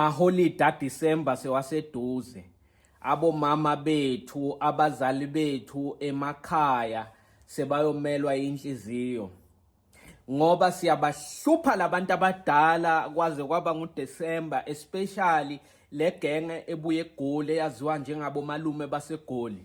Amaholide aDisemba sewaseduze. Abomama bethu, abazali bethu emakhaya sebayomelwa inhliziyo. Ngoba siyabahlupha labantu abadala kwaze kwaba nguDisemba especially legenge ebuye egoli eyaziwa njengabomalume basegoli.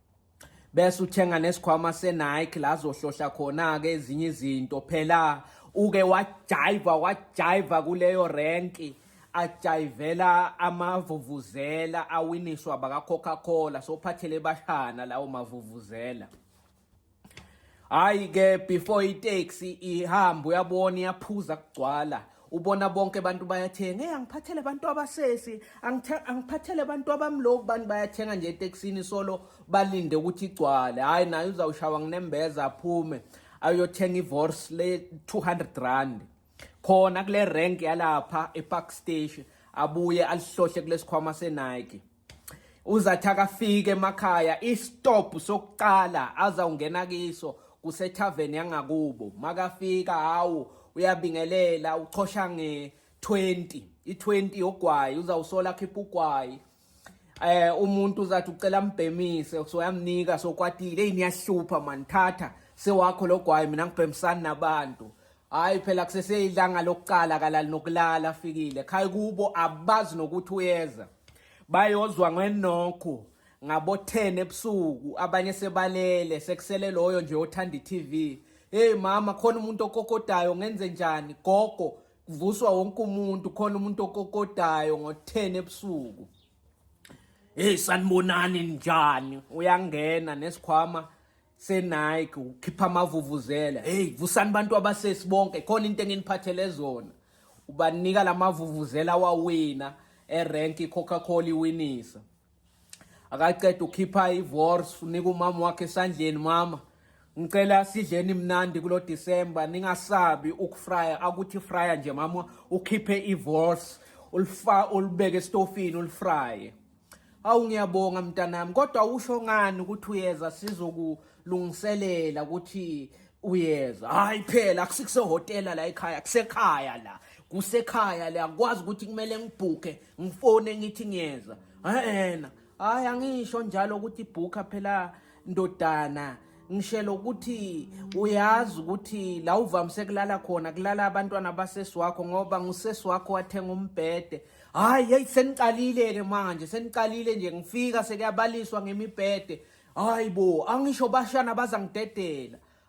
bese uthenga nesikhwama se-Nike la azohlohla khona-ke ezinye izinto phela uke wajayiva wajayiva kuleyo renki ajayivela amavuvuzela awiniswa baka-coca-cola sophathele bashana lawo mavuvuzela Hayi ke before itaxi ihamba uyabona iyaphuza kugcwala ubona bonke abantu bayathenga hey angiphathele abantu abasesi angiphathele abantu abamloku abantu bayathenga nje etekisini solo balinde ukuthi igcwale hayi naye uzawushawa nginembeza aphume ayothenga ivorse le 200 rand khona kule rank yalapha epark station abuye alihlohle kulesikhwama senike uzathi akafike emakhaya istop sokuqala azawungena kiso kusethaveni yangakubo makafika hawu uyabingelela uchosha nge 20 i20 yogwayi uzawusola khipha ugwayi eh umuntu uzathi ucela mbhemise soyamnika sokwatile yini yahlupha man thatha sewakho logwayi mina ngibhemisani nabantu hayi phela kuseseyilanga lokuqala kalali nokulala afikile khaya kubo abazi nokuthi uyeza bayozwa ngenokho ngabo 10 ebusuku abanye sebalele sekusele loyo nje othanda iTV hey mama khona umuntu okokodayo ngenze njani gogo kuvuswa wonke umuntu khona umuntu okokodayo ngo10 ebusuku hey sanibonani njani uyangena nesikhwama senike ukhipha amavuvuzela hey vusani bantu abasesi bonke khona into enginiphathele zona ubanika lamavuvuzela wawina erank iCoca-Cola iwinisa akaqeda ukhipha iVors unika umama wakhe esandleni mama ngicela sidleni mnandi kulo December ningasabi ukufrya akuthi frya nje mama ukhiphe iVors ulifa ulibeke estofini ulifrye Awu ngiyabonga mntanami kodwa usho ngani ukuthi uyeza sizokulungiselela ukuthi uyeza. Hayi phela akusikusehotela la ekhaya kusekhaya la. Kusekhaya la kwazi ukuthi kumele ngibhuke ngifone ngithi ngiyeza. Ehena. Hayi angisho njalo ukuthi bhuka phela ndodana ngishelo ukuthi uyazi ukuthi la uvamise kulala khona kulala abantwana basesi wakho ngoba ngusesi wakho wathenga umbhede hayi hey seniqalile-ke manje seniqalile nje ngifika sekuyabaliswa ngemibhede hayi bo angisho bashana bazangidedela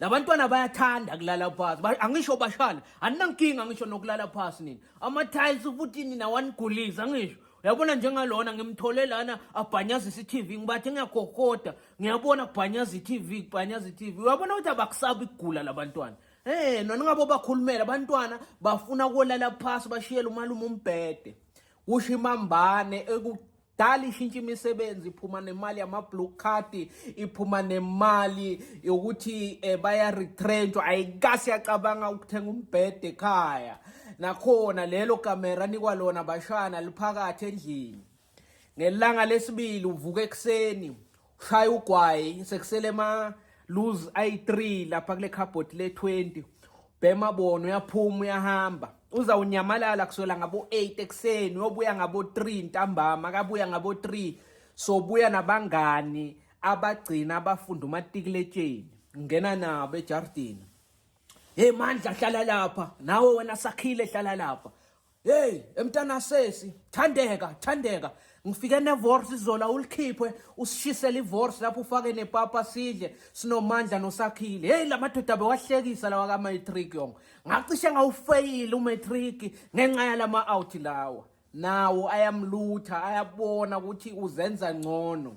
labantwana bayathanda kulala phasi Ba- angisho bashana aninankinga ngisho nokulala phasi nini ama-tiles futhi nina wanigulisa ngisho uyabona njengalona ngimthole lana abhanyaza isi-tv ngibathe ngiyakhokoda ngiyabona kubhanyaza i-tv kubhanyaza i-tv uyabona ukuthi abakusabi ukugula labantwana Eh nona ngabo bakhulumela abantwana bafuna kolala phasi bashiyele umalume umbhede kusho imambane eku dala ishintsha imisebenzi iphuma nemali yama-blue card iphuma nemali yokuthi um bayaretrenshwa ayikasi yacabanga ukuthenga umbhede ekhaya nakhona lelo kamera nikwa lona bashana liphakathi endlini ngelanga lesibili uvuka ekuseni Shaya ugwayi sekusele ma lose i3 lapha kule cupboard le 20. Bhema bona uyaphuma uyahamba. Uza unyamalala kuswela ngabo 8 ekseni uyobuya ngabo 3 ntambama akabuya ngabo 3 sobuya nabangani abagcina abafunda umatikuletsheni ngena nabo ejardini hey mandla hlala lapha nawe wena sakhile hlala lapha Hey, emntana sesi, thandeka, thandeka. Ngifike nevorce izola ulikhiphe, usishisele ivorce lapho ufake nepapa sidle, sinomandla nosakhile. Hey, lamadoda bewahlekisa lawa ka matric yonke. Ngacishe ngawufeyile umatric ngenxa yalama out lawa. Nawo ayamlutha, ayabona ukuthi uzenza ngcono.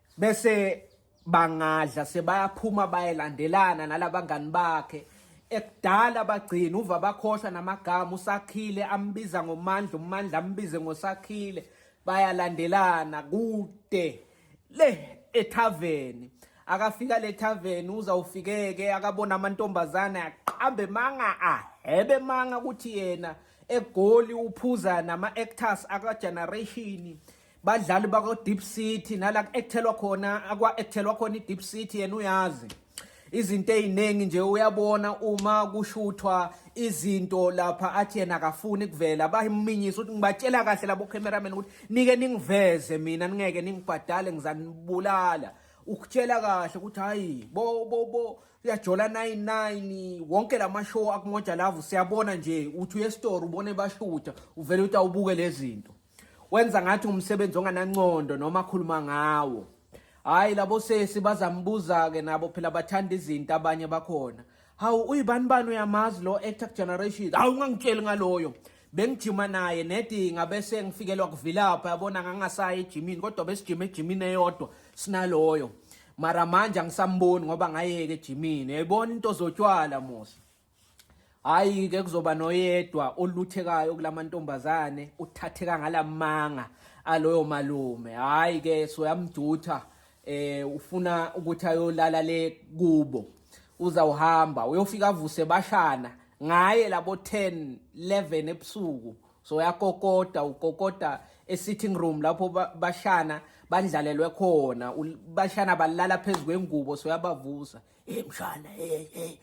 bese bangadla sebayaphuma bayelandelana nalabangani bakhe ekudala bagcina uva bakhohlwa namagama usakhile ambiza ngomandla umandla ambize ngosakhile bayalandelana kude le ethaveni akafika le thaveni uzawufikeke akabona amantombazane aqambe manga ahebe manga ukuthi yena egoli uphuza nama-actors akageneration badlali bakwa-deep city nala ku-ekthelwa khona akwa-ekthelwa khona i-deep city yena uyazi izinto eziningi nje uyabona uma kushuthwa izinto lapha athi yena akafuni kuvela bayiminyisa ukuthi ngibatshela kahle labo cameraman ukuthi nike ningiveze mina ningeke ningibhadale ngizanibulala ukutshela kahle ukuthi hayi bo bo bo uyajola 99 wonke lama show akumoja lava siyabona nje uthi uyesitore ubone bashutha uvele uthi awubuke lezinto Wenza ngathi umsebenzi onganancondo noma akhuluma ngawo. Hayi labo sesi bazambuza ke nabo phela bathanda izinto abanye bakhona. Hawu uyibani bani uyamazi lo actor generation. Hawu ungangitsheli ngaloyo. Bengijima naye nedi ngabese ngifikelwa kuvilapha yabona ngangasayi ejimini kodwa besijima ejimini eyodwa sinaloyo. Mara manje angisamboni ngoba ngayeke ejimini. Yayibona into zotshwala musa. Hayi ke kuzoba noyedwa oluthekayo kulamantombazane uthatheka ngalamanga aloyo malume. Hayi ke soyamdutha eh ufuna ukuthi ayolala le kubo. Uzawuhamba uyofika avuse bashana ngaye labo 10 11 ebusuku soyakokoda ukokoda esitting room lapho bashana bandlalelwe khona bashana balala phezu kwengubo soyabavusa hey mshana hey hey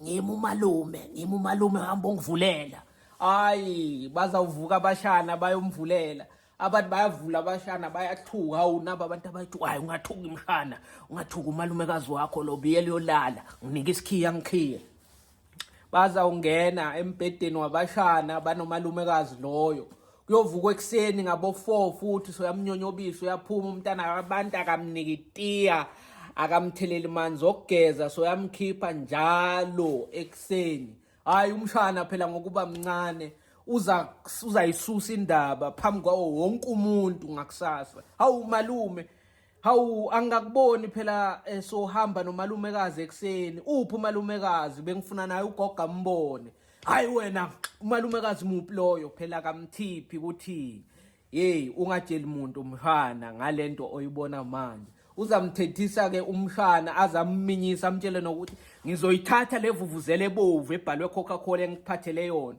ngimi umalume ngimi umalume hamba ungivulela hayi bazawuvuka abashana bayomvulela abantu bayavula abashana bayathuka hawu nabo abantu abathi hayi ungathuki mshana ungathuki umalumekazi wakho lo biyela uyolala nginike isikhiya ngikhiye bazawungena embhedeni wabashana banomalumekazi loyo kuyovukwa ekuseni ngabo-four futhi soyamnyonyobisa uyaphuma umntana abantu akamnikitiya akamtheleli manzi okugeza soyamkhipha njalo ekuseni hhayi umshana phela ngokuba mncane uzayisusa indaba phambi kwawo wonke umuntu ngakusasa hawu malume Hawu angakuboni phela eh, sohamba nomalumekazi ekuseni. Uphi umalumekazi? Bengifuna naye ugoga mbone. Hayi wena umalumekazi muphi loyo phela kamthiphi ukuthi hey ungatsheli muntu mhana ngalento oyibona manje. Uzamthethisa ke umshana azamminyisa amtshele nokuthi ngizoyithatha levuvuzele ebovu ebhalwe Coca-Cola engiphathele yona.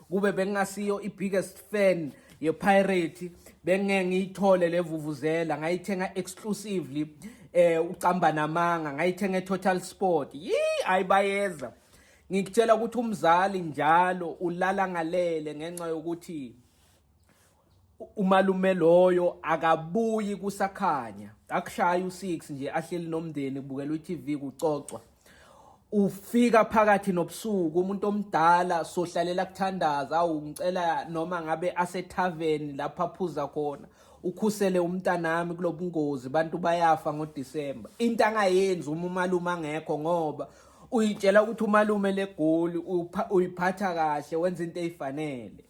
kube bengingasiyo i-biggest fan yepirate bengingeke ngiyithole le vuvuzela ngayithenga exclusively eh ucamba namanga ngayithenga etotal sport yi ayibayeza ngikutshela ukuthi umzali njalo ulala ngalele ngenxa yokuthi umalume loyo akabuyi kusakhanya akushaya u6 nje ahleli nomndeni kubukela uTV kucocwa ufika phakathi nobusuku umuntu omdala sohlalela kuthandaza awu ngicela noma ngabe asethaveni lapha phuza khona ukhusele umntanami kulobungozi bantu bayafa ngoDisemba into angayenzi uma umalume angekho ngoba uyitshela ukuthi umalume legoli uyiphatha kahle wenza into eyifanele